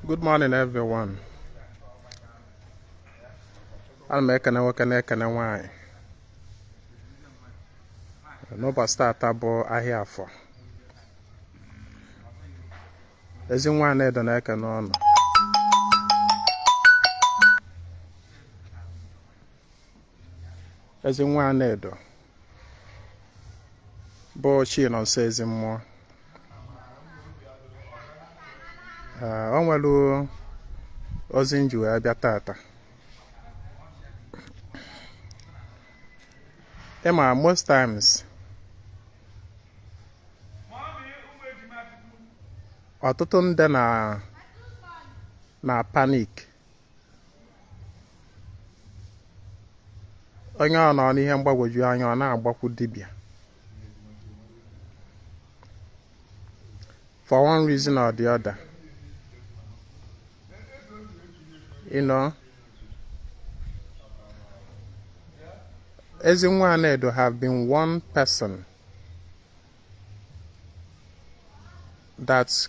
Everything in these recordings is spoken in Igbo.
Good morning everyone. Ana m ekene nwoke na-ekene nwanyị. N'ụbọchị taata bụ ahịa Afọ. Ezi nwa Anaedo na-ekene ụnụ. Ezi nwa Anaedo bụ Chinonso Ezimmụọ Ee, o nwere ozi m ji wee bịa taata ị ma most times ọtụtụ ndị na na panic onye ọ nọ n'ihe mgbagwoju anya ọ na-agbakwu dibịa for one reason or the other you know ezi nwa Anaedo have been one person that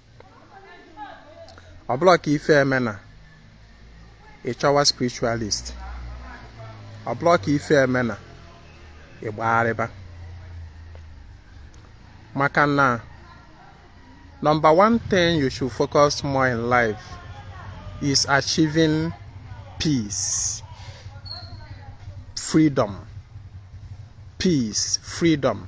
ọ bụla ka ife emena ị chọwa spiritualist ọ bụla ka ife emena ị gbagharịba maka na number one thing you should focus more in life is achieving peace freedom peace freedom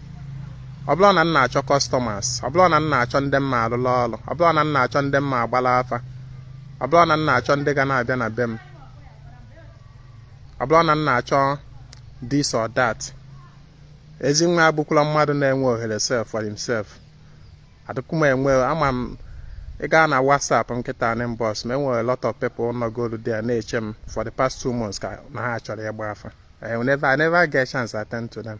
ọ bụrụ na m na-achọ customers ọ bụrụ na m na-achọ ndị m ma-arụlụ ọrụ ọ bụrụ na m na-achọ ndị m ma-agbara afa ọ bụrụ na m na-achọ ndị ga na-abịa na be m ọ bụrụ na m na-achọ this or that ezi nwa abụkwala mmadụ na-enwe ohere self for himself adịkwu m enwe ama m ị gaa na WhatsApp m kịta n'inbox m e nwere lot of people nọgolu there na-eche m for the past two months ka na ha chọrọ ịgba afa I never, I never get chance to attend to them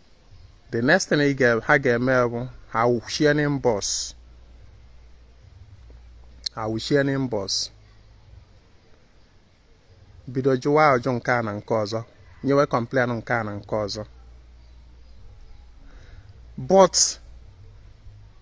the next thing ha ga-eme bụ ha wụchie n'inbox ha wụchie n'inbox bido jụwa ajụ nke a na nke ọzọ nyewe complain nke a na nke ọzọ but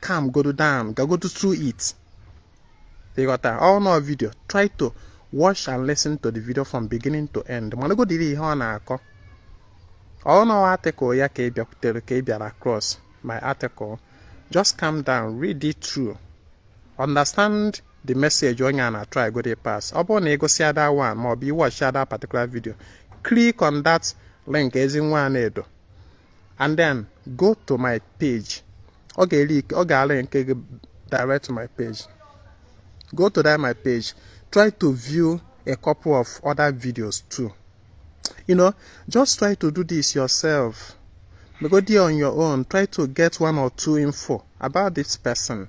calm godo down gagodo through it ị ghọta ọ bụrụ n'ọ video try to watch and listen to the video from beginning to end maragodi ihe ọ na-akọ ọ bụrụ n'ọ article ya ka ị bịakwutere ka ị bịara across my article just calm down read it through understand the message onye a na-atry godi ịpass ọ bụrụ na ị gụsịa that one ma ọ bụ ị watchịa that particular video click on that link ezi nwa Anaedo and then go to my page ọ ga-eri ọ ga-arị nke gị direct to my page go to that my page try to view a couple of other videos too you know just try to do this yourself go there on your own try to get one or two info about this person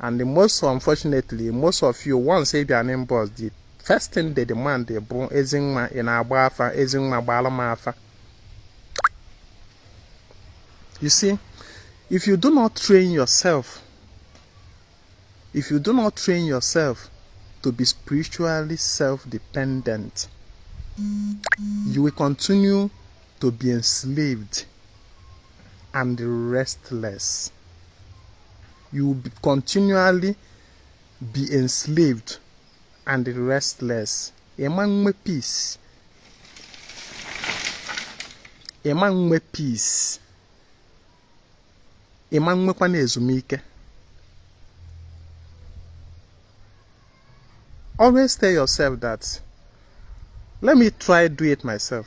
and most unfortunately most of you once ị bịa n'inbox the first thing they demand bụrụ Ezinwa ị na-agba afa Ezinwa gbaala m afa you see if you do not train yourself to be spiritually self-dependent you will continue to be enslaved and restless. You will be continually be enslaved and restless. Ịma nwe peace. Ịma nwe peace. Ịma nwekwa na ezumike. Always tell yourself that let me try do it myself.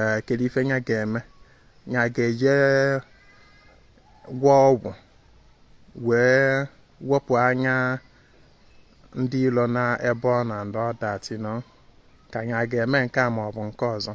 ee kedu ife nya ga-eme nya ga-eje gwọọ ọgwụ wee wepụ anya ndị ilo na ebe ọ na ndị ọdachi nọ ka nya ga-eme nke a ma ọ bụ nke ọzọ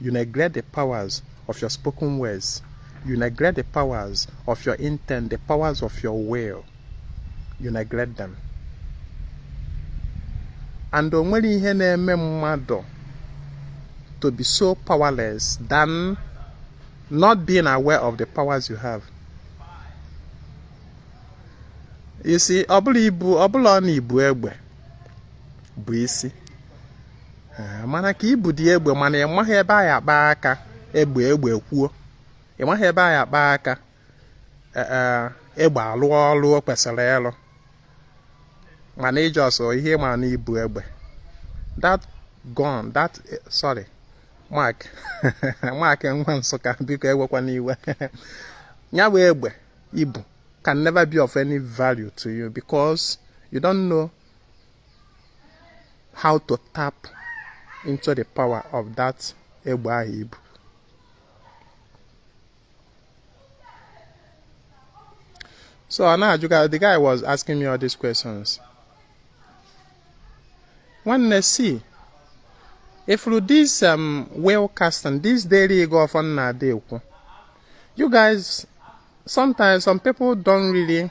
You neglect the powers of your spoken words. You neglect the powers of your intent, the powers of your will. You neglect them. And o nwerọ ihe na-eme mmadụ to be so powerless than not being aware of the powers you have. You see, ọ bụrọ i bu ọ bụrọ na i bu egbe bụ isi. eh, mana ka i budi egbe mana ị maghị ebe a ya-akpa aka egbe egbe kwuo ị maghị ebe a ya-akpa aka eh, eh, egbe alụọ ọlụ o kwesịrị ịlụ mana ị just ihe ma na i bu egbe that gun that sorry Mark Mark nwa Nsụka biko ewekwana iwe ya bụ egbe i bu can never be of any value to you because you don't know how to tap into the power of that egbe ahụ i bu so ọ na-ajụ ka the guy was asking me all these questions nwanne see ị fụrụ this um, will casting this daily ịgọ ọfọ m na-adị ekwu you guys sometimes some people don't really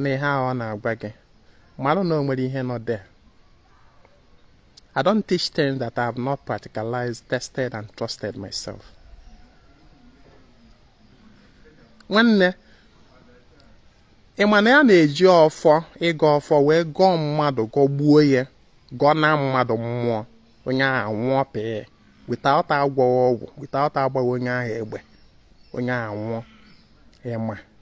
na ihe ahụ ọ na-agwa gị marụ na o nwere ihe nọ there I don't teach things that I have not practicalized, tested and trusted myself. nwanne ị ma na ya na-eji ọfọ ịgọ ọfọ wee gọọ mmadụ gọgbuo ya gọnaa mmadụ mmụọ onye ahụ nwụọ pii without agwọghị ọgwụ without agbaghị onye ahụ egbe onye ahụ nwụọ ị ma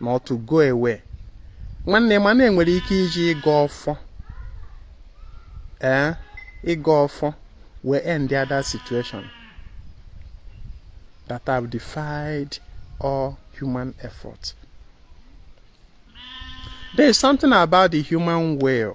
na otu go ewe nwanne ị ma na e nwere ike iji ịgọ ọfọ ee ịgọ ọfọ wee endịa that situation that have defied all human effort there is something about the human will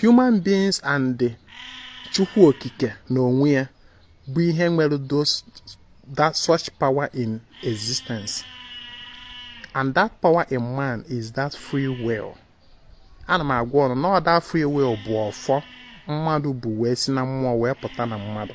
human beings and the chukwu okike na onwe ya bụ ihe nwere that such power in existence and that power in man is that free will ana m agwa ụnụ na that free will bụ ọfọ mmadụ bu wee si na mmụọ wee pụta na mmadụ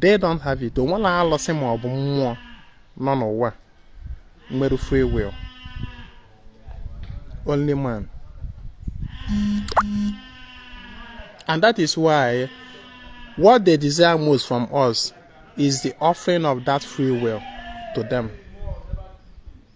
they don't have it o nwero alụsị ma ọ bụ mmụọ nọ n'ụwa nwere free will only man and that is why what they desire most from us is the offering of that free will to them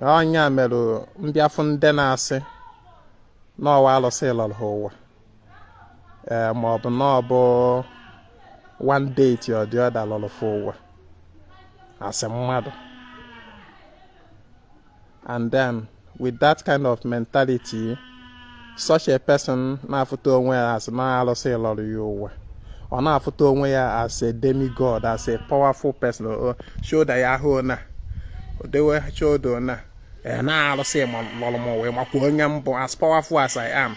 ọ nya mere m bịa fụ ndị na-asị na ọ wụ alụsị lọrọ ha ụwa ee ma ọ bụ na ọ bụ one deity or the other lọrọ fa ụwa as mmadụ and then with that kind of mentality such a person na-afụta onwe ya as na alụsị lọrọ ya ụwa ọ na-afụta onwe ya as a demigod as a powerful person shoulder ya ahụ na o dewe shoulder na e, na alụsị lọrọ m ụwa makwa onye m bụ as powerful as I am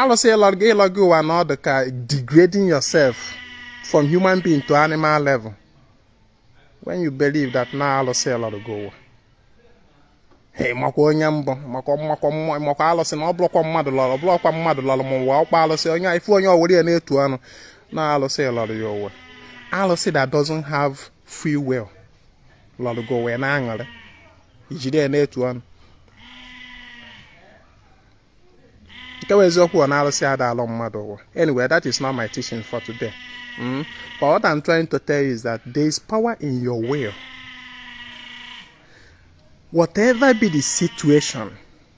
alụsị ịlọ gị ịlọ gị ụwa na ọ dị ka degrading yourself from human being to animal level when you believe that na alụsị lọrọ gị ụwa makwa onye m bụ makwa makwa makwa alụsị na ọ bụrọkwa mmadụ lọrọ bụrọkwa mmadụ lọrọ m ụwa ọkwa alụsị onye ị fụ onye o were ya na-etu ọnụ na alụsị lọrọ ya ụwa alụsị that doesn't have free will lọrọ gị ụwa na-aṅụrị i jide ya na-etu ọnụ nke bụ eziokwu ọ na arụsị ada alọ mmadụ ụwa anyway that is not my teaching for today mm? but what I'm trying to tell you is that there is power in your will whatever be the situation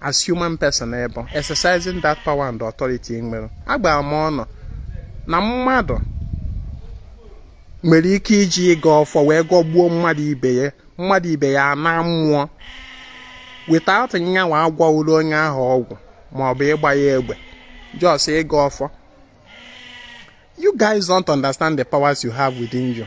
as human person ebe exercising that power and authority ị nwere agwara m ụnụ na mmadụ nwere ike iji ịgọ ọfọ wee gọgbuo mmadụ ibe ya na mmụọ without nyanwa agwọọrọ onye ahụ ọgwụ ma ọ bụ ịgba ya egbe just ịgọ ọfọ you guys don't understand the powers you have within you.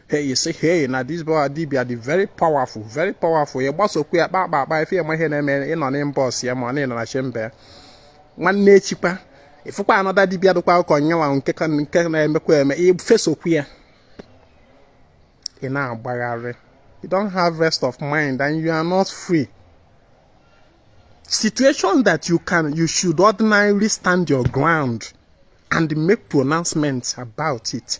hey you say hey na this boy a dibia dị very powerful very powerful ya gbasokwu ya kpa akpa akpa ife ya ma ihe na-eme ị nọ n'ime bus ya ma ọ na ị nọ na chamber nwanne echi kwa ị fụkwa another dibia dịkwa ọkụ nyanwa nke na-emekwa eme i fesokwu ya ị na-agbagharị you don't have rest of mind and you are not free situation that you can you should ordinarily stand your ground and make pronouncements about it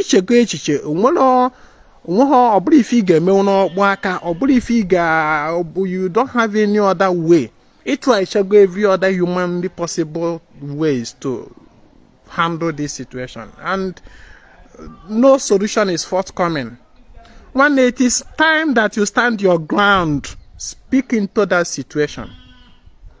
ichego echiche o nwerọ ọ bụrọ ife ị ga-eme n'ọkpọ aka ọ bụrọ ife ị ga you don't have any other way ị trychago every other humanly possible ways to handle this situation and no solution is forthcoming nwanne it is time that you stand your ground speak into that situation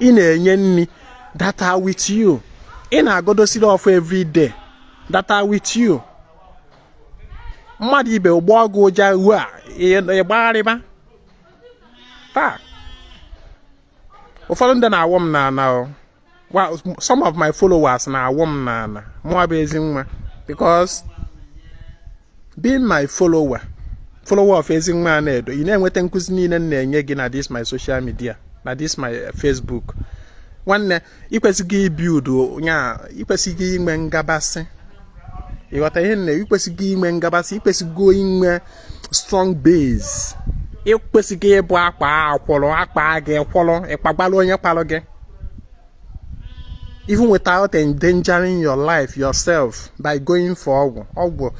ị na-enye nri that are with you ị na-agodosiri ọfọ everyday that are with you mmadụ ibe gị gbọọ gị ụja ụwa agbagharịba taa ụfọdụ ndị na-awụ m n'ana well some of my followers na-awụ m n'ana mụwa bụ Ezinwa because being my follower follower of Ezinwa Anaedo ị na-enweta nkụzi niile m na-enye gị na this my social media na this my eh, Facebook nwanne ị kwesịgo ịbuildu nya ị kwesịgo inwe ngabasị ịghọta ihe nne ị kwesịgo inwe ngabasị ị kwesịgo inwe strong base ị kwesịgo ịbụ akpa akwụrụ akpa gị kwụrụ ị kpagbara onye kpalụ gị even without endangering your life yourself by going for ọgwụ ọgwụ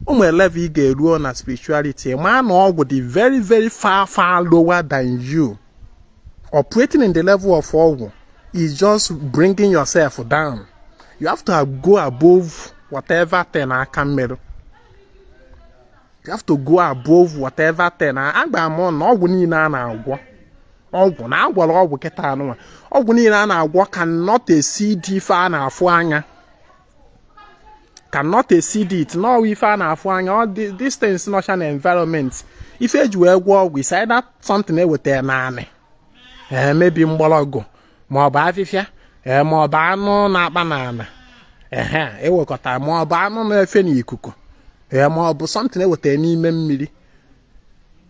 o nwe level ị ga-eruo na spirituality ma na ọgwụ dị very very far far lower than you Operating in the level of ọgwụ is just bringing yourself down. You have to go above whatever thing aka merụ. You have to go above whatever thing. Agba m na ọgwụ niile a na-agwọ ọgwụ na agwọrọ ọgwụ kịtaa nụnwa ọgwụ niile a na-agwọ cannot exceed ife a na-afụ anya. cannot exceed it n'ụwa ife a na-afụ anya all these things nọcha na environment ife eji wee gwọọ ọgwụ is either something eweta n'anị ee maybe mgbọlọgwụ ma ọ bụ afịfịa ee ma ọ bụ anụ na-akpa n'ana ehe ewekọta ma ọ bụ anụ na-efe n'ikuku ee ma ọ bụ something eweta n'ime mmiri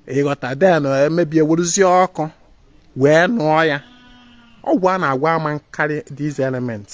ịghọta then maybe e weruzie ọkụ wee nụọ ya ọgwụ a na-agwọ ama akarị these elements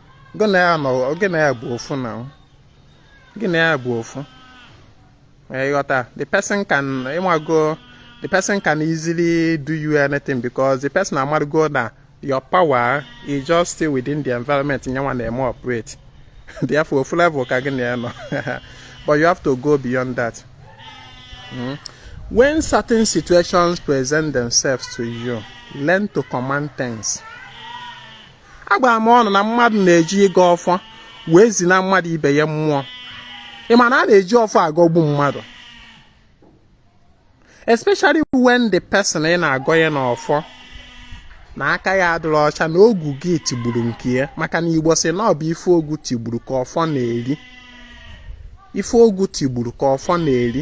gị na ya nọ gị na ya bụ ofu na o. gị na ya bụ ofu Eh, ịghọta the person can ịmago the person can easily do you anything because the person amago na your power is just still within the environment nyanwa na-eme operate therefore ofu level ka gị na ya nọ but you have to go beyond that Mm. when certain situations present themselves to you learn to command things agwara m ụnụ na mmadụ na-eji ịgọ ọfọ wee zina mmadụ ibe ya mmụọ ị ma na a na-eji ọfọ agọgbu mmadụ especially when the person ị na-agọ ya n'ọfọ na aka ya adịrọ ọcha na ogu gị tigburu nke ya maka na igbo si na ọ bụ ife ogu tigburu ka ọfọ na-eri ife ogu tigburu ka ọfọ na-eri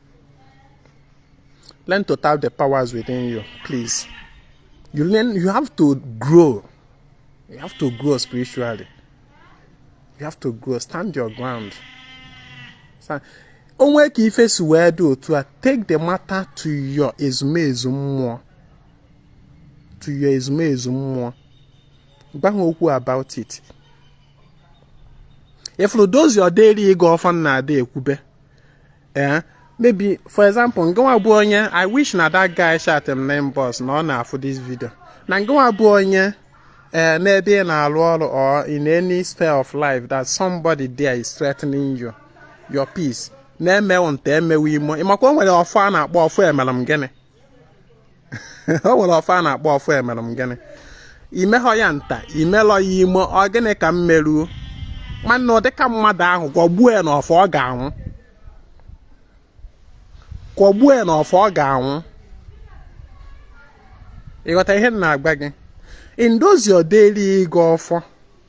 Learn to tap the powers within you, please. You learn, you have to grow. You have to grow spiritually. You have to grow. Stand your ground. Stand. o nwee ka ife si wee dị otu a take the matter to your ezumezu mmụọ to your ezumezu mmụọ gwa ha okwu about it ị fụrụ those your daily ịgọ ọfọ a na-adị ekwube eh, maybe for example ngịnwa bụ onye i wish na that guy chat m na inbox na ọ na-afụ this video na ngịnwa bụ onye ee eh, n'ebe ị na-arụ ọrụ or in any sphere of life that somebody there is threatening you your peace na-emewo nta emewo imo ịmakwa o nwere ọfọ a na-akpọ ọfọ emere m gịnị o nwere ọfọ a na-akpọ ọfọ emere m gịnị i meghọ ya nta i melọ ya imo ọ gịnị ka m meruo nwanne ụdịka mmadụ ahụ gọgbuo ya na ọfọ ọ ga-anwụ gọgbuo ya na ọfọ ọ ga-anwụ ịghọta ihe m na-agwa gị in those your daily ịgọ ọfọ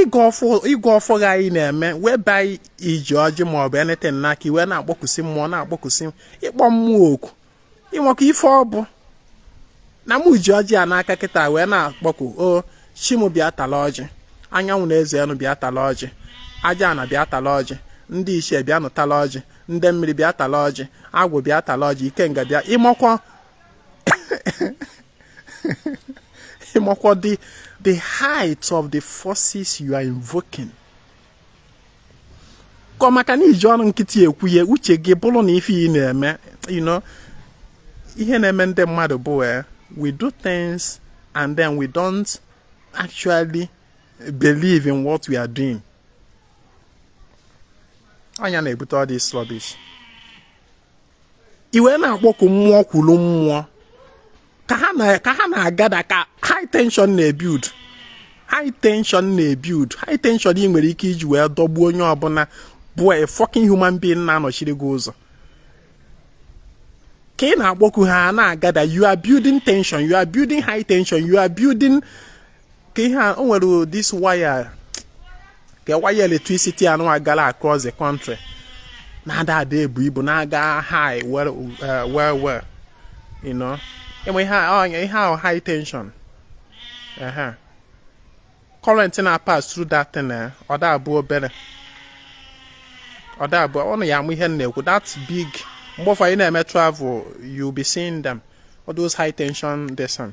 ịgọ ọfọ gị a ị na-eme whereby i ji ọjị ma ọ bụ anything n'aka i wee na-akpọkusi mmụọ na-akpọkusi ịkpọ mmụọ oku ịmakwa ife ọ bụ na mụ ji ọjị a n'aka kịta wee na-akpọku o chi m bịa tala ọjị anyanwụ na eze enu bịa tala ọjị aja ana bịa tala ọjị ndị ichie bịa nụ tala ọjị ndị mmiri bịa tala ọjị agwụ bịa tala ọjị ikenga bịa ịmakwa ịmakwa the the height of the forces you are invoking ka ọ maka na i ji ọnụ nkịtị ekwu ya uche gị bụrụ na ife ị na-eme you know ihe na-eme ndị mmadụ bụ eh, we do things and then we don't actually believe in what we are doing ọ ya na-ebute all this rubbish i wee na-akpọku mmụọ kwuru mmụọ ka ha na-agada ka high tension na-ebuild high tension na-ebuild high tension ị nwere ike iji wee dọgbuo onye ọbụla bụ a fucking human being na-anọchiri gị ụzọ ka ị na-akpọku ha na-agada you are building tension you are building high tension you are building ka ihe a o nwere this wire ka wire electricity anụ agala across the country na-ada ada ebu ibu na-aga high well uh, well well you know enwe ihe a- ọnya ihe ahụ high tension ehe current na pass through that thing eh, ọ da abụ obere ọ da abụ ọ na ya amụ ihe m na-ekwu that big mgbe ụfọdụ ị na-eme travel you be seeing them all those high tension this thing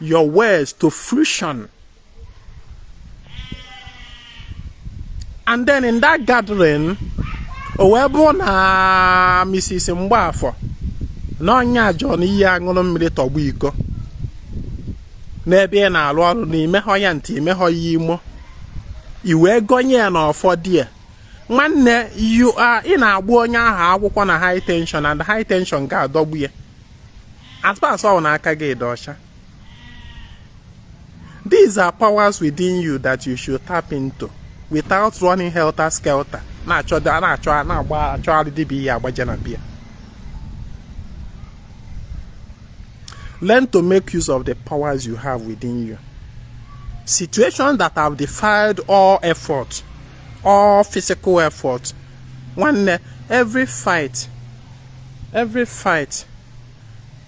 your words to fruition. And then in that gathering, o wee bụrụ na Mrs. Mgbaafọ na onye ajụ na ị ya-aṅụrụ mmiri tọgbọ iko n'ebe ị na-arụ ọrụ na i mehọ ya nta i mehọ ya imo i wee gọnye ya na ọfọ there nwanne ị na-agba onye ahụ akwụkwọ na high tension and high tension ga-adọgbu ya As far as ọ na aka gị dị ọcha. These are powers within you that you should tap into without running helter skelter na-achọ na-achọ na-agba achọgharị dibịa ị ya-agbaje na be ya. Learn to make use of the powers you have within you. Situations that have defied all effort all physical effort nwanne every fight every fight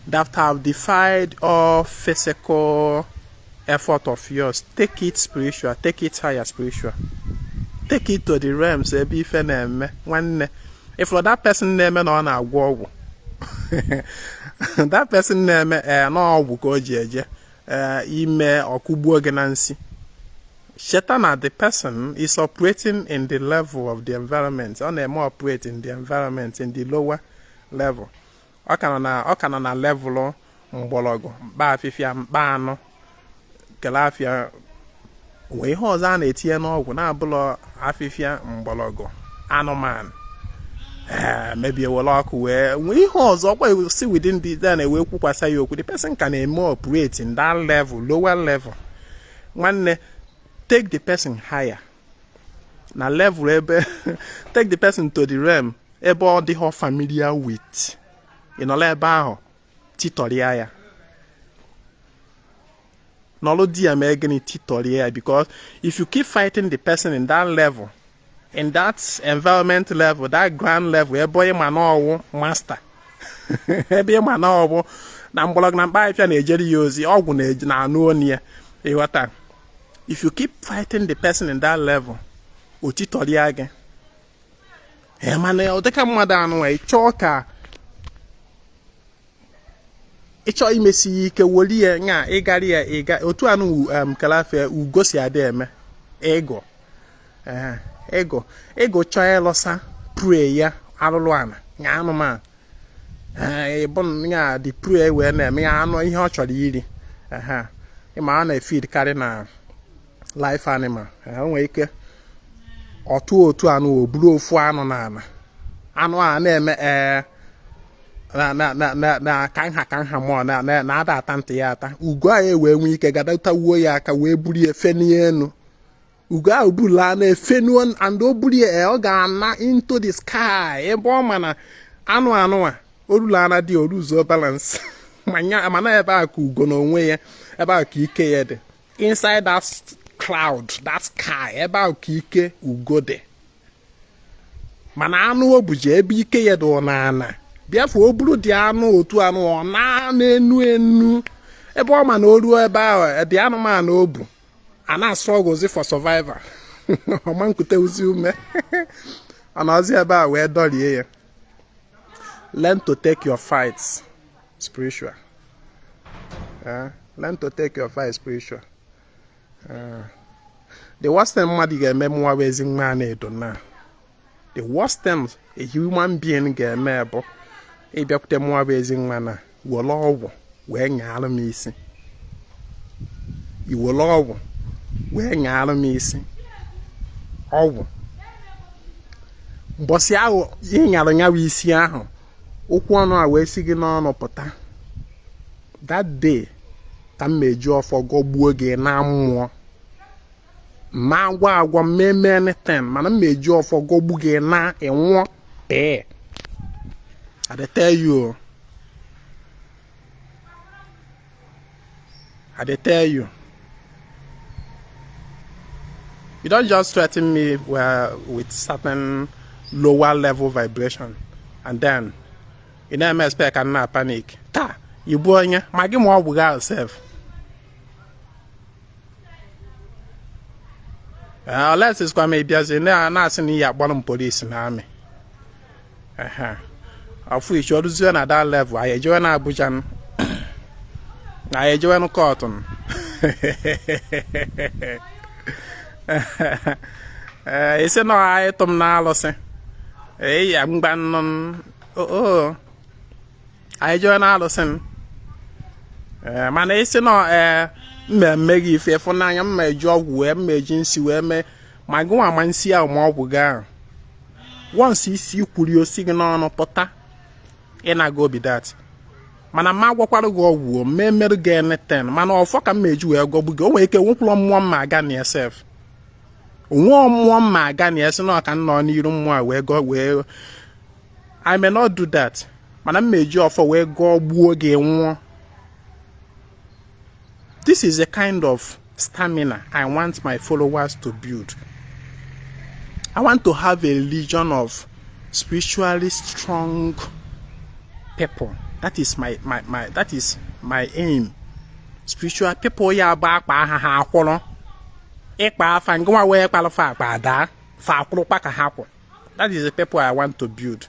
that have defied all physical effort of yours take it spiritual take it higher spiritual take it to the realms ebe ife na-eme nwanne if that person na-eme na ọ na-agwọ ọgwụ that person na-eme ee eh, na ọgwụ ka o ji eje eh, i mee ọ kụgbuo gị na nsi cheta na the person is operating in the level of the environment ọ na-eme operate in the environment in the lower level ọ ka nọ na level mgbọrọgwụ mkpa afịfịa mkpa anụ kele afịa wee ihe ọzọ a na-etinye n'ọgwụ na-abụlọ afịfịa mgbọrọgwụ anụmanụ Eh, maybe were ọkụ wee nwee ihe ọzọ ọkwa si within the then wee kwukwasa ya okwu the person ka na-eme operate in that level lower level nwanne take the person higher na level ebe take the person to the realm ebe ọ dịhọ familiar with ị nọlụ ebe ahụ titọrịa ya nọlụ there mee gịnị titọrịa ya because if you keep fighting the person in that level in that environment level that ground level ebe onye ma n'ọwụ master ebe ị ma n'ọgwụ na mgbọrọgwụ na mkpa afịfịa na-ejere ya ozi ọgwụ na-anụ onu ya ị ghọta if you keep fighting the person in that level o titọrịa gị mana ọ dịka mmadụ anụ ị chọọ ka ị chọ imesi ya ike woli ya nya ịgara ya ịga otu anụ um, kalafia ugo si adị eme eagle eagle eagle chọọ ịlụsa prey ya alụlụ ana ya anụmanụ bụ ya the prey wee na-eme ya anụ ihe ọ chọrọ iri ị ma ọ na-efeed karị na live animal o nwere ike ọtụ otu anụ o buru ofu anụ na ala anụ a na-eme ee na ka nha ka nha mụọ na-ada ata ntị ya ata ugo a ewee nwee ike gbadata wuo ya aka wee buru ya fenie enu ugo ahụ buru anụ efenuo and o buru ya ọ ga-ana into the sky ebe ọ ma na anụ anụ a orula ana dị o loosuo balance mana ebe a ka ugo na onwe ya ebe a ka ike ya dị inside that cloud that sky ebe a ka ike ugo dị mana anụ o buje ebe ike ya dị ọ na ana therefore o buru the anụ otu anụ ọ na-enu enu ebe ọ ma na o ruo ebe ahụ the anụmanụ o bu a na-astrugglezi for survival ọ ma nkute uzi ume ọ nọzi ebe a wee dọrie ya learn to take your fights spiritual eh, learn to take your fights spiritual eh, the worst thing mmadụ ga-eme mụwa bụ Ezinwa Anaedo na the worst thing a human being ga-eme bụ ịbịakwute mụwa bụ Ezinwa na were ọgwụ wee nyaara m isi i were ọgwụ wee nyaara m isi ọgwụ mbọsị ahụ ị nyara nya wụ isi ahụ okwu ọnụ a wee si gị n'ọnụ pụta that day ka m meji ọfọ gọgbuo gị na mmụọ ma agwa agwa m meme anything mana m eji ọfọ gọgbu gị na ị nwụọ pịị I dey tell you o I dey tell you you don't just threaten me uh, with certain lower level vibration and then you no expect ka m na panic taa ị bụ onye ma gị ma ọgwụ gị sef unless zikwa ma ị bịazi na-asị na ị ya-akpọrọ m police na army of which o ruzie na dat level anyị ejewe na Abuja anyị ejewe kọtụ ee ị sị na ọ wụ ịtụ m n'alụsị eyi ngwanụ oo anyị jee na alụsị m eh, mana ị sị na ọ ee eh, m ma-eme gị ife efu n'anya m ma-eji ọgwụ wee m ma-eji nsi wee mee ma gị nwa ma nsi ahụ ma ọgwụ gị ahụ once i si kwuri o si gị n'ọnụ pụta ị na-aga obi dat mana m ma-agwọkwara gị ọgwụ m ma-emerụ gị anything mana ọfọ ka m ma-eji wee gọgbu gị o nwere ike nwekwụrụ mmụọ m ma-aga na ya sef o nwe mmụọ m ma-aga na ya sị na ọ ka nọ n'iru mmụọ wee gọ wee I may not do that mana m eji ọfọ wee gọgbuo gị nwụọ this is a kind of stamina i want my followers to build i want to have a legion of spiritually strong people that is my my my that is my aim spiritual people ya bụ a kpaa ha ha akwụrụ ị kpaa fa ngwa wee kpalụ fa akpa ada fa akwụrụkpa ka ha kwụ that is the people i want to build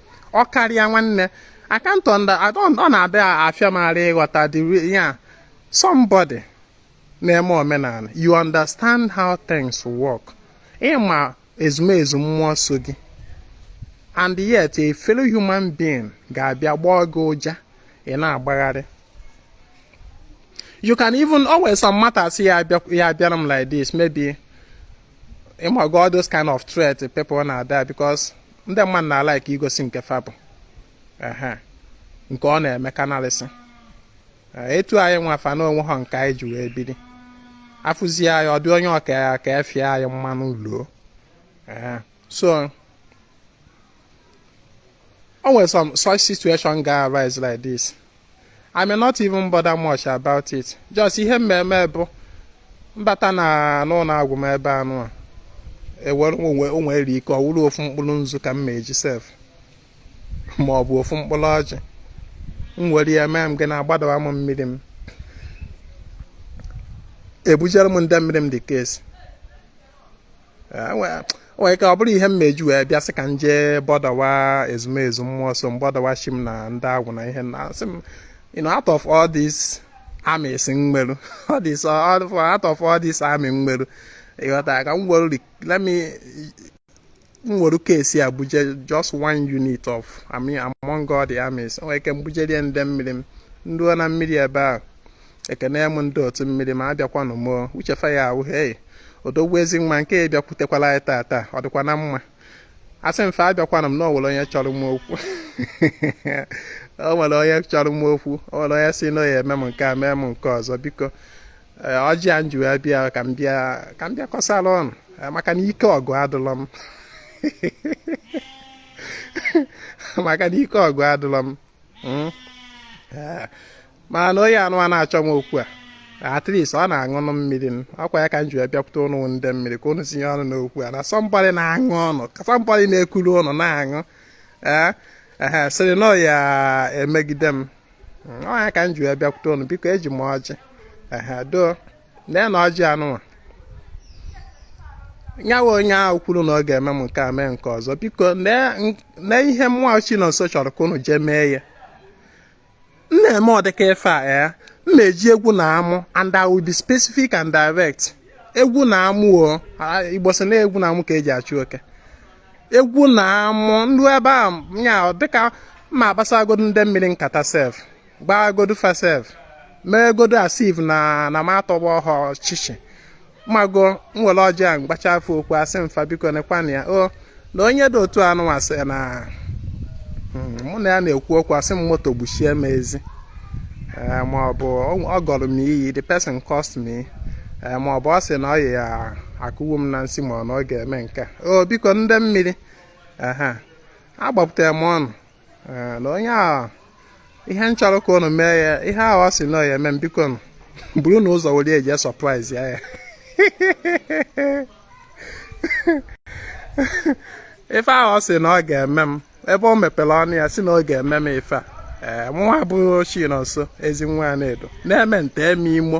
ọ karịa nwanne I can't under I don't ọ na-adị afịa m arụ ịghọta the ya somebody na-eme omenala you understand how things work ị ma ezumezu mmụọ so gị and yet a fellow human being ga-abịa gbaa gị ụja ị na-agbagharị you can even always some matters ya abịara m like this maybe ịmago all those kind of threat people na-abịa because ndị mmadụ na-alike igosi nke fa bụ nke ọ na-eme kanalịsị etu anyị nwa fa na onwe ha nke anyị ji wee biri afụzie anyị ọ dị onye ọka ya ka efie anyị mmanụ luo so o nwere some such situation ga-arise like this I may not even bother much about it just ihe m ma-eme bụ m bata na n'ụlọ agwụ m ebe anụ a ewere o nwere ike ọ wụrụ ofu mkpụrụ nzu ka m ma-eji sef ma ọ bụ ofu mkpụrụ ọjị m were ya mee m ga na-agbadawa m mmiri m ebujere m ndị mmiri m the case Eh, nwere ike ọ bụrụ ihe m ma-eji wee bịa sị ka m jee botherwa ezumezu mmụọ so m botherwa chi m na ndị agwụ na ihe na sị m you know out of all this armies m nweru all this out of all this army m nweru ị ghọta ka m were let me m were case a bujee just one unit of I mean among all the armies nwere ike m bujere ndị mmiri m ndị nọ na mmiri ebe ahụ ekene m ndị otu mmiri ma abịakwanụ m uche fa ya-abụ hei odogwu Ezinwa nke ya bịakwutekwala anyị tata ọ dịkwa na mma asị m fa abịakwanụ m na o nwere onye chọrọ m okwu o nwere onye chọrọ m okwu o nwere onye sị na ya-eme m nke a mee m nke ọzọ biko eh, ọjị a m ji wee bịa ka m bịa ka m bịa kọsara ụnụ eh, maka na ike ọgụ adịlọ m maka na ike ọgụ adịlọ m hmm? eh, mana na onye anụwa na-achọ m okwu a at least ọ na-aṅụnụ mmiri m ọ kwa ya ka m ji wee bịakwute ụnụ ndị mmiri ka ụnụ tinye ọnụ n'okwu a na somebody na-aṅụ ụnụ ka somebody na-ekuru ụnụ na-aṅụ ee ehe sịrị na ọ ya-emegide m Mm, ọ ya ka m ji wee bịakwute ụnụ biko eji m ọjị ehe doo lee na ọjị anụnwa nyawa onye ahụ kwuru na ọ ga-eme m nke a mee nke ọzọ biko lee ihe mụwa Chinonso chọrọ ka ụnụ jee mee ya m na-eme ọ dịka ife a ya eh? m na-eji egwu na amụ and I will be specific and direct egwu na amụ Igbo sị na egwu na amụ ka e ji achụ oke egwu na amụ ndị ebe a nya dịka ma agbasagodo ndị mmiri nkata sef gbaagodo fa sef mee godo as if na na m atọgba ọhụrụ ọchịchị m mago m were ọjị a m gbachaa fa okwu asị m fa biko nekwanụ ya o na onye dị otu anụwa sị na hmm, mụ na ya na-ekwu okwu ọ sị m moto gbuchie m ezi eh, ma ọ bụ ọ gọrọ m iyi the person cursed me eh, ma ọ bụ ọ sị na ọ ya-akụgbu m na nsị ma ọ na ọ ga-eme nke o biko ndị mmiri ehe agbapụtara m ụnụ na onye a ihe m chọrọ ka unu mee ya ihe ahụ ọ sị na ọ ya-eme m bikonụ buru na ụzọ were jee surprise ya ife ahụ ọ sị na ọ ga-eme m ebe o mepere ọnụ ya sị na ọ ga-eme m ife a ee mụnwa bụ Chinonso Ezinwa Anaedo na-eme nta eme imo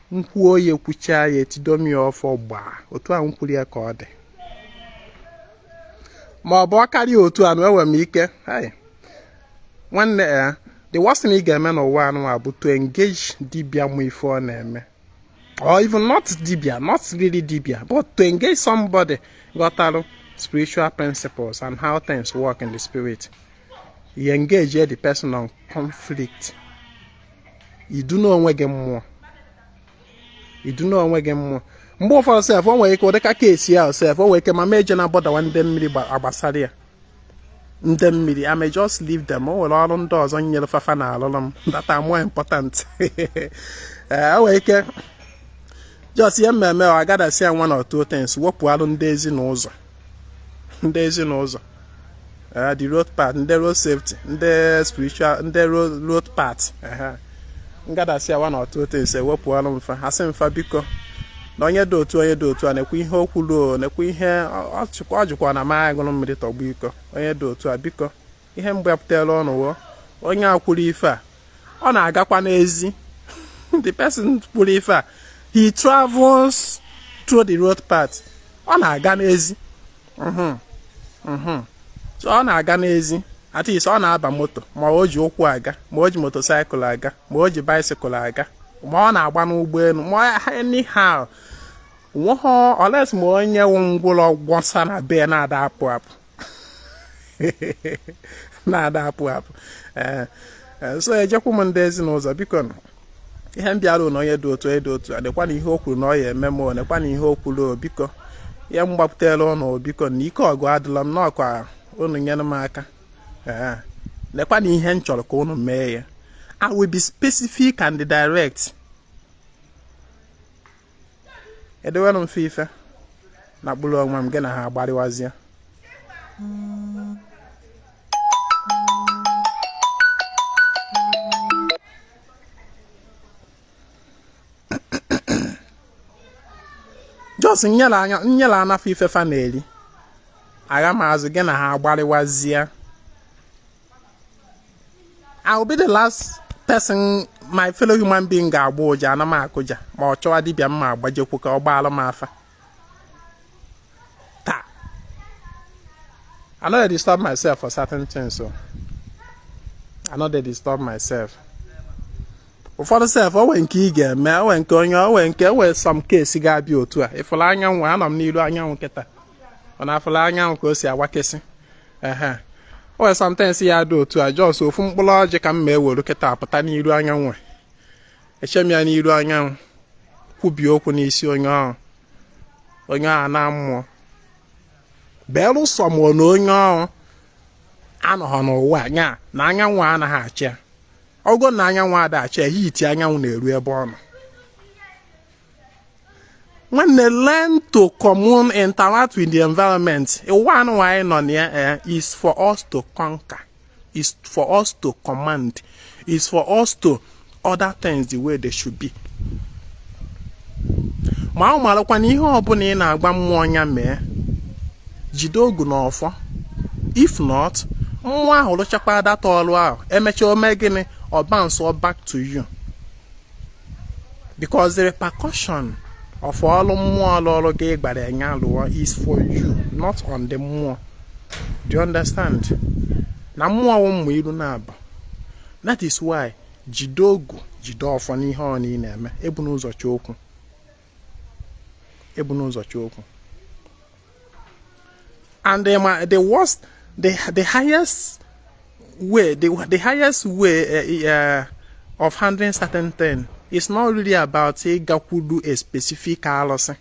m kwuo ya ekwuchaa ya etido m ya ọfọ gbaa otu a m kwuru ya ka ọ dị ma ọ bụ ọ karịa otu anụwa enwere m ike nwanne ya eh, the worst thing ị ga-eme n'ụwa anụwa bụ to engage dibia ma ife ọ na-eme or even not dibia not really dibia but to engage somebody ghọtarụ spiritual principles and how things work in the spirit you engage the person on conflict i du onwe gị mmụọ i du onwe gị mmụọ mgbe ụfọdụ sef o nwere ike ọ dịka case ahụ sef o nwere ike m ama eje na botherwa ndị mmiri gbasara ya ndị mmiri I may just leave them o nwere ọrụ ndị ọzọ m nyere fa fa na-alụrụ m that are more important eh, o nwere ike just ihe mmemme ọ agadasi ya one or two things wepụ alụ ndị ezi na ụzọ ndị ezi n'ụzọ the road path ndị road safety ndị spiritual ndị road path m gotasịa one or two things ewepụrụ m fa asị m fa biko na onye dị otu a onye dị otu a nekwa ihe o kwuru o nekwa ihe ọ jikwa na m aṅụrụ mmiri tọgbọ iko onye dị otu a biko ihe m gbapụtara ụnụ wụ onye a kwuru ife a ọ na-agakwa n'ezi the person kwuru ife a he travels through the road path ọ na-aga n'ezi mhm, mhm. ọ na-aga n'ezi at least ọ na-aba moto ma o ji ụkwụ aga ma o ji motorcycle aga ma o ji bicycle aga ma ọ na-agba n'ụgbọelu ma anyhow nweghọ unless ma onye wụ ngwụlọ gwọsa na be na-ada apụ apụ na-ada apụ apụ ee eh, eh, so ejekwu m ndị ezi n'ụzọ biko ihe m bịara na onye dị otu a dị otu a nekwanụ ihe o kwuru na ọ ya-eme m o nekwanụ ihe o kwuru biko ya m gbapụtara ụnụ biko na ike ọgụ adịla m nụ ka ụnụ nyere m aka ee eh, nekwanụ ihe m chọrọ ka ụnụ mee ya I will be specific and direct edewelụ m fa ife na kpụrụ onwe m gị na ha agbarịwazie just m nyelana fa ife fa na-eri agha m azụ gị na ha agbarịwazie I will be the last person my fellow human being ga-agbọ ụja ana m akụja m achọwa dibịa m ma-agbajekwu ka ọ gbaalụ m afa taa I no dey disturb myself for certain things so I no dey disturb myself ụfọdụ sef o nwe nke ị ga-eme o nwe nke onye o nwe nke o nwe some case ga-abịa otu a ị fụla anyanwụ anọ m n'iru anyanwụ kịta ụnụ afụla anyanwụ ka o si awakesị ehe o nwere sometimes ya dị otu a just ofu mkpụrụ ọjị ka m ma-ewere kịta pụta n'iru anyanwụ eche m ya n'iru anyanwụ kwubie okwu n'isi onye ahụ onye ahụ anaa mmụọ belụsọ ma onye ahụ anọghọ n'ụwa nya na anyanwụ anaghị acha ya ọkụ na anyanwụ ada acha ya heat anyanwụ na-eru ebe ọ nọ nwanne learn to commune interact with the environment ụwa nwa anyị nọ na ya eh, is for us to conquer is for us to command is for us to order things the way they should be ma ọ marakwa na ihe ọbụla ị na-agba mmụọ nya mee jide ogu na ọfọ if not mmụọ ahụ rụchakwa that ọrụ ahụ emechaa o mee gịnị ọ bounce back to you because the repercussion of ọlụ mmụọ lụụrụ gị ị gbara nye ya alụọ is for you, not on the mmụọ. Do you understand? Na mmụọ wụ mma iru naabọ. That is why jide ogu, jide ọfọ n'ihe ọbụna ị na-eme, ebuna ụzọ chọọ okwu. ebuna ụzọ chọọ okwu and the, eh, the worst the, the highest way the, the highest way uh, uh, of handling certain thing is not really about ịgakwuru a specific alụsị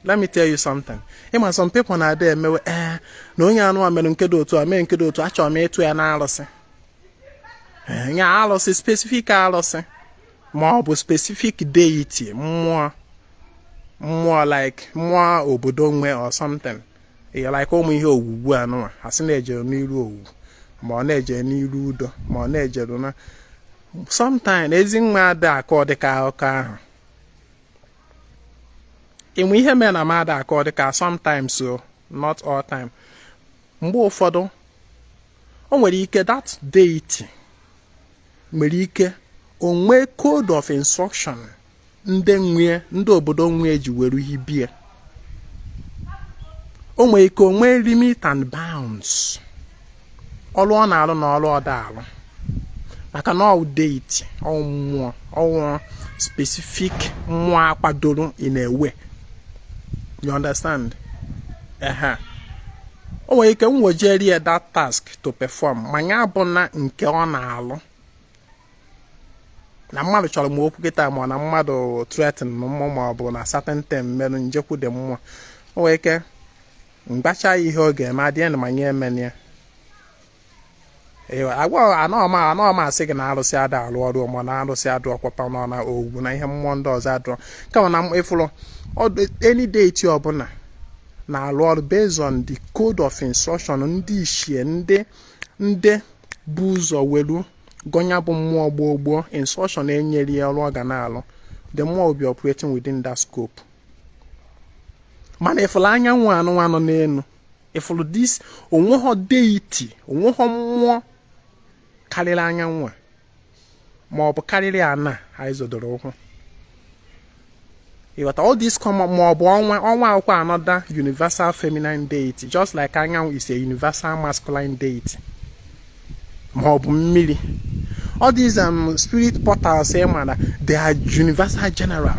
let me tell you something ị ma some people na-ada emewe ee eh, na onye anụnwa mere nke dị otu a mee nke dị otu a achọrọ m ịtụ ya na alụsị nye alụsị specific alụsị ma ọ bụ specific deity mmụọ mmụọ like mmụọ obodo nwe or something ya like ụmụ ihe owuwu anụnwa a sị na ejere n'iru owu ma ọ na ejere n'iru Udo ma ọ na ejere na sometimes ezi nwa ada akọ dịka akụkọ ahụ ịnwe ihe mere na m ada akọ dịka sometimes so not all time mgbe ụfọdụ o nwere ike that deity nwere ike o nwee code of instruction ndị nwee ndị obodo nwee ji were hibie o nwere ike o nwee limit and bounds ọrụ ọ na-arụ na ọrụ ọ da arụ maka na ọ wụ deity ọ wụ mmụọ ọ wụ specific mmụọ a kwadoro in a way you understand ehe o nwere ike m wejere ya that task to perform ma ya abụna nke ọ na-alụ na mmadụ chọrọ m okwu kịta ma na mmadụ threaten m mmụọ ma ọ bụ na certain thing merụ m jekwude mmụọ o nwere ike m gbachaa ya ihe ọ ga-eme adịghị na ma nya emena ya agwa anọọ m asị gị na arụsị ada alụ ọrụ ma na arụsị adụrọkwa ma ọ na ọgwụ na ihe mmụọ ndị ọzọ adụrọ kama na ị fụrụ any deity ọbụla na-arụ ọrụ based on the code of instruction ndị ichie ndị ndị bụ ụzọ welu gọọ nya bụ mmụọ gboo gboo instruction e nyere ya ọrụ ọ ga na-arụ the mmụọ will be operating within that scope mana ị fụrụ anyanwụ anụnwa nọ n'elu ị fụrụ this o nweghọ deity o nweghọ mmụọ karịrị anyanwụ a ma ọ bụ karịrị ana anyị zodoro ụkwụ ị ghọta all this come ma ọ bụ ọnwa ọnwa wụkwa another universal feminine deity just like anyanwụ is a universal masculine deity ma ọ bụ mmiri all these um, spirit portals ị eh, mara they are universal general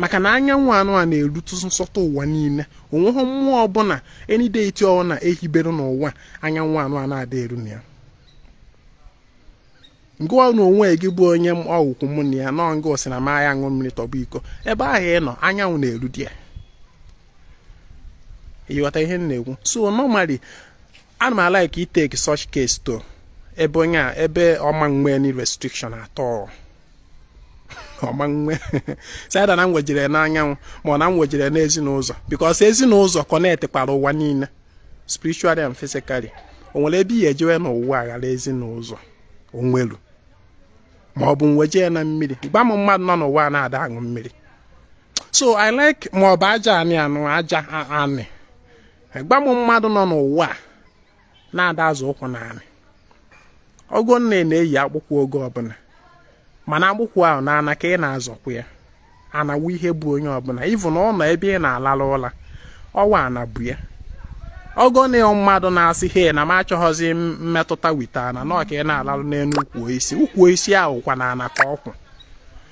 maka na anyanwụ anụ a na-erutụ nsọtụ ụwa niile onweghị mmụọ ọbụla any deity ọ na ehibere n'ụwa anyanwụ anụ a na-ada eru na ya ngụwa na onwe gị bụ onye ọgwụkwụ mụ na ya nọ nga osi na maya ṅụọ mmiri tọgbọ iko ebe ahụ ị nọ anyanwụ na-eru di ya ịghọta ihe m na-ekwu so normally ana m a-like ị-take such case to ebe onye a ebe ọ ma nwe any restriction at all ọ ma nwe it's either na m wejere n'anyanwụ ma ọ na m wejere n'ezinụzọ because ezinụzọ connect kwara ụwa niile spiritually and physically o nwere ebe ihe ejewe n'ụwa aghara ezinụzọ o nwelu ma ọ bụ m weje na mmiri gwa m mmadụ nọ n'ụwa na-ada aṅụ mmiri so i like ma ọ bụ aja anị anụ aja anị gwa m mmadụ nọ n'ụwa na-ada azọ ụkwụ n'anị ọgọ na ị na-eyi akpụkwụ oge ọbụla mana akpụkwụ ahụ n'ana ka ị na-azọkwa ya ana wụ ihe bu onye ọbụla even ọ nọ ebe ị na-alala ụla ọ wụ ana bu ya ọgọ na mmadụ na-asị he na m achọghọzi mmetụta with ana na ọka ị na-alalụ n'elu ukwu osisi ukwu osisi ahụ kwa n'ana ka ọ kwụ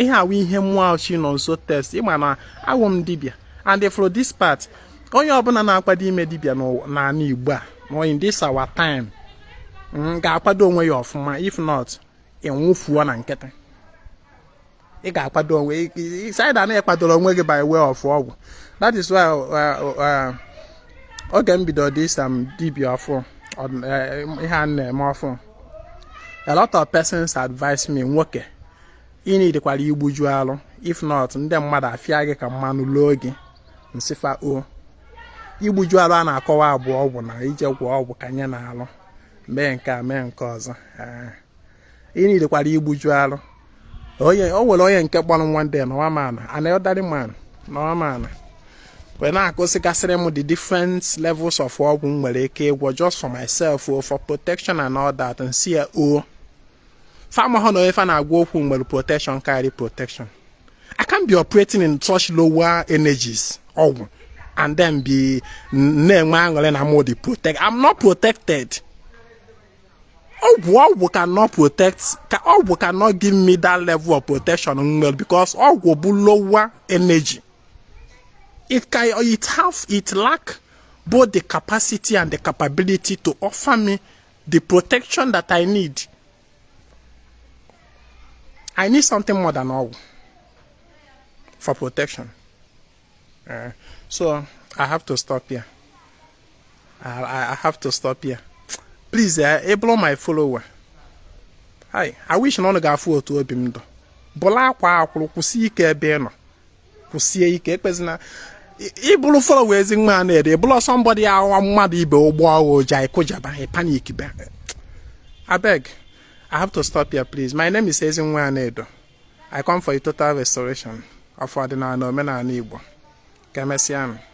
ihe a wụ ihe mmụọ chi nọ nso test ị ma na awụ m dibịa and for this part onye ọbụla na-akwado ime dibịa n'ala igbo a na in this our time mm, ga-akwado onwe ya ọfụma if not ị nwụfuo na nkịtị ị ga-akwado onwe it's either na ị kwadoro onwe gị by way of ọgwụ that is why uh, uh, oge m bido dị isa m dibia ọfụ eh, ihe a na-eme ọfụ a lot of persons advise me nwoke ị need kwara igbuju alụ if not ndị mmadụ afịa gị ka mmanụ loo gị m sị fa ọ igbuju alụ a na-akọwa a bụ ọgwụ na ije gwọ ọgwụ kanye n'alụ mee nke a mee nke ọzọ ị need kwara igbuju alụ onye o nwere onye nke kpọrọ m one day an old man an elderly man an old man wee na-akụzigasịrị m the different levels of ọgwụ m nwere ike ịgwọ just for myself o for protection and all that m sị ya o fa mahụ na onye fa na-agwa okwu nwere protection karịrị protection I can't be operating in such lower energies ọgwụ and then be na-enwe aṅụrị na mụ dị protect I'm not protected ọgwụ ọgwụ cannot protect ka ọgwụ cannot give me that level of protection nwere because ọgwụ bụ lower energy it can it have it lack both the capacity and the capability to offer me the protection that I need I need something more than ọgwụ for protection Uh, so I have to stop here. I, I have to stop here. Please, uh, eh, ị bụlụ my follower. Hi, I wish na ụnụ ga-afụ otu obi m dụ. Bụlụ akwaa akwụrụ kwụsie ike ebe ị nọ. Kwụsie ike ekpezina ị bụrụ follower Ezinwa Anaedo bụrụ somebody awa mmadụ ibe ụ gbọọ ghụ ụja ị kụjaba panic be. Abeg, I have to stop here please. My name is Ezinwa Anaedo. I come for a total restoration of ọdịnala na omenala Igbo. Ka emesịa nụ.